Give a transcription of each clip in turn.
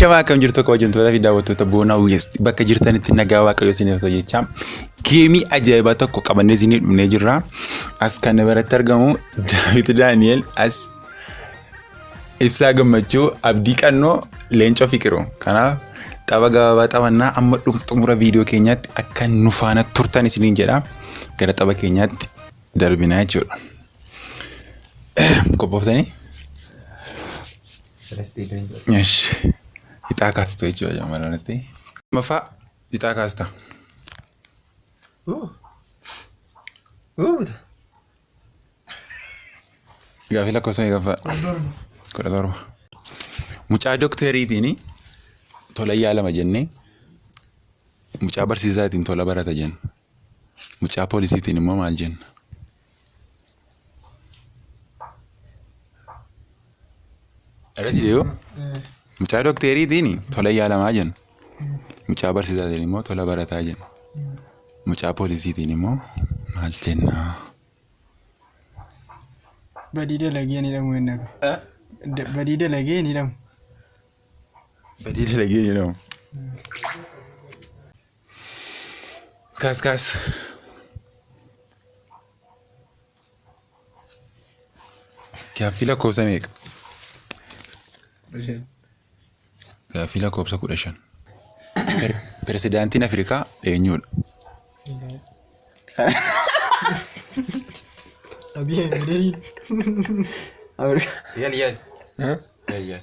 Akkam akkam jirtu kabajamtoota fi daawwattoota boonaa West bakka jirtanitti nagaa waaqayyo isiniif ta'u jecha geemii ajaa'ibaa tokko qabannee isinii dhufnee jirra. As kan biratti argamu Daawit Daani'el as ibsaa gammachuu abdii qannoo leencoo fiqiru. Kanaaf tapha gabaabaa taphannaa amma xumura viidiyoo keenyaatti akka nu faana turtan isiniin jedha. Gara tapha keenyaatti. darbina jechuudha. Qophooftanii? Ixaa kaastu jechuudha shamarranitti. Maffaa ixaa kaasta. Gaafii lakkoofsa meeqaffaa? Kudha torba. Mucaa dokteeriitiin tola yaalama jennee mucaa barsiisaatiin tola barata jenna. Mucaa poolisiitiin immoo maal jenna? Irratti deebi'u. Mucaa dokteeriitiin tola yaalamaa jenna. Mucaa barsiisaatiin immoo tola barataa jenna. Mucaa poolisiitiin immoo maal jenna? Badii dalagee ni dhamu hin dhagu. Da- Badii dalagee ni dhamu. Badii dalagee jedhamu. Kaas kaas. Gaaffii lakkoofsa meeqa? Gaaffii lakkoofsa kudha shan. Pirezidaantiin Afrikaa eenyudha? Abiy Ahmed. Yal yal. Yal yal.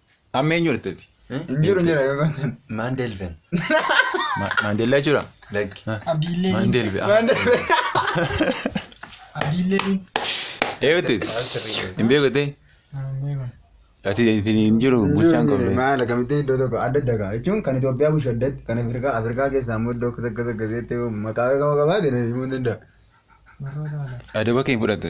Amma eenyu argiteeti? Hin jiru jira yoo ta'an. Maandeelven. Maandeellaa jechuudha? Lakki. Abdiillee. Maandeelven. Abdiillee. Eeyooti? Hin beekutee? Ati hin jiru bulchaan kun. Maal akkamitti iddoo tokko adda adda ga'a jechuun kan Itoophiyaa bulchu addatti kan Afrikaa Afrikaa keessaa immoo iddoo akkas akkas akkas jettee maqaa beekamaa qabaate na himuu ni danda'a. Adaba kee hin fudhatte.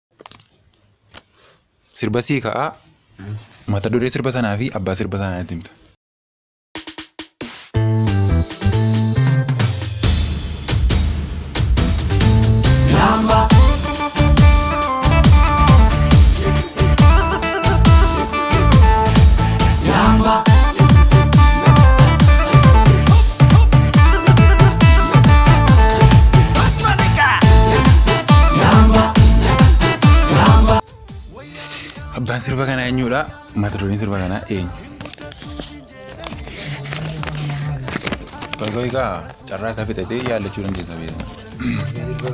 Sirba sii ka'a. Mata duree sirba sanaa fi abbaa sirba sanaa natti himta. Lamba. Abbaan sirba kanaa eenyudha? Mata dureen sirba kanaa eenyu? Baay'ee egaa carraa isaa fixatee yaallachuu dandeessa beekama.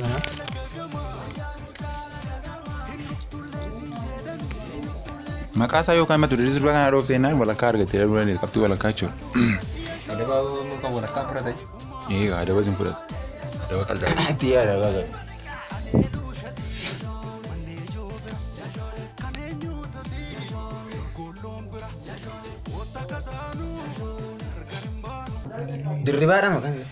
Maqaa isaa yookaan mata duree sirba kanaa dhoofte jennaan walakkaa argattee dhabuu dandeessa qabxii walakkaa jechuudha. Adaba kan walakkaa fudhate. Eegaa adaba isin fudhatu. Adaba qaldaa. Itti yaada gaafadha. Dirribaadha maqaan isaa.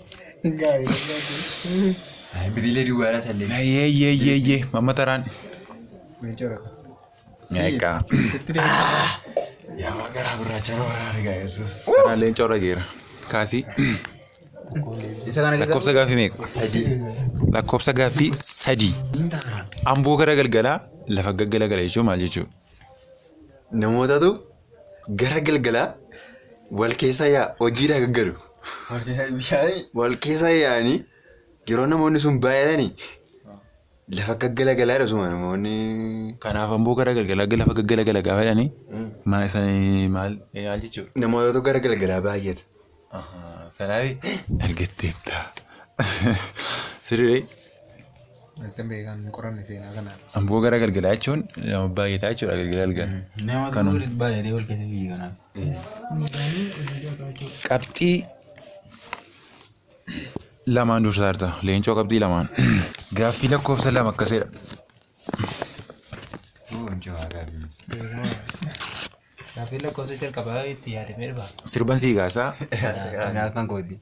Biriilee duwwaadhaa sallee. Yee yee yee yee mamma taraan. Egaa. Yaa waan garaa gurraachaa na waraa argaa yesus. Taraan leenca warra geera. Kaasii. Isa kana Lakkoofsa gaaffii meeqa? sadii. Lakkoofsa gaaffii sadii. Amboo gara galgalaa lafa gaggalagala jechuun maal jechuudha? Namootatu Gara galgalaa wal keessa yaa hojiidhaa gaggalu. Bishaanii. Wal keessa yaa'anii yeroo namoonni sun baay'atanii lafa gaggala galaa dhasuma namoonni. Kanaaf ammoo gara galgalaa lafa gaggala gala gaafa jedhanii maal isaanii maal maal jechuudha. Namootatu gara galgalaa baay'ata. Salaabii argatteetta. Sirrii Kan beekan hin qoranne seenaa kana. amboo gara galgalaa jechuun nama baay'ee ta'a jechuudha galgala galgala. Nama Kanuma. turuu baay'ee wal keessa biyya kanaaf. Qabxii lamaan dursaarta. Leencoo qabxii lamaan. Gaaffii lakkoofsa lama akkasidha. Saafii lakkoofsa jalqabaa itti yaadamee dhufa. Sirban sii kaasaa. Anaa kan kooti.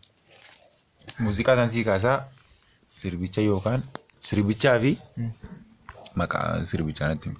Muuziqaa kan sii kaasaa. Sirbicha yookaan sirbichaa fi maqaa sirbichaa natti himi.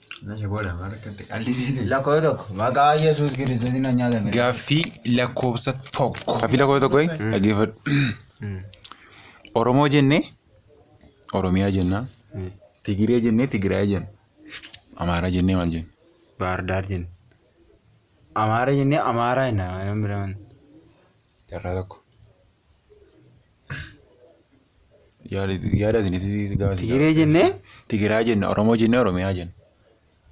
Meesha booda maal akka itti qallisee Lakkoofsa tokko maqaa Yesuus Kiristoosiin na nyaata fedha. Gaaffii lakkoofsa tokko. Gaaffii lakkoofsa tokko dhaggeeffadhu. Oromoo jennee Oromiyaa jennaa. Tigiree jennee Tigiraay jenna. Amaaraa jennee maal jenna? Baardaar jenna. Amaara jennee Amaaraa jenna. Nama biraan. carraa tokko. Yaada yaada isin isin gaafa isin Tigree jennee Tigiraa jenna, Oromoo jennee Oromiyaa jenna.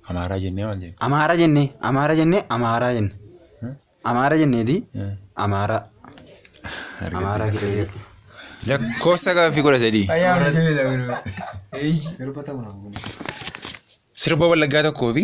Amaaraa jennee maal jenna? Amaara jennee Amaara jennee Amaaraa jenna. Hmm? Amaara jenneeti Hmm. Amaaraa. Amaaraa Argite. jedhee. Lakkoofsa gaaffii kudha sadii. Sirba wallaggaa tokkoo fi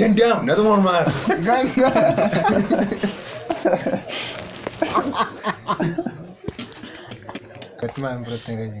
Danda'am natu mormaa. Kati maal hin fudhattee gaji?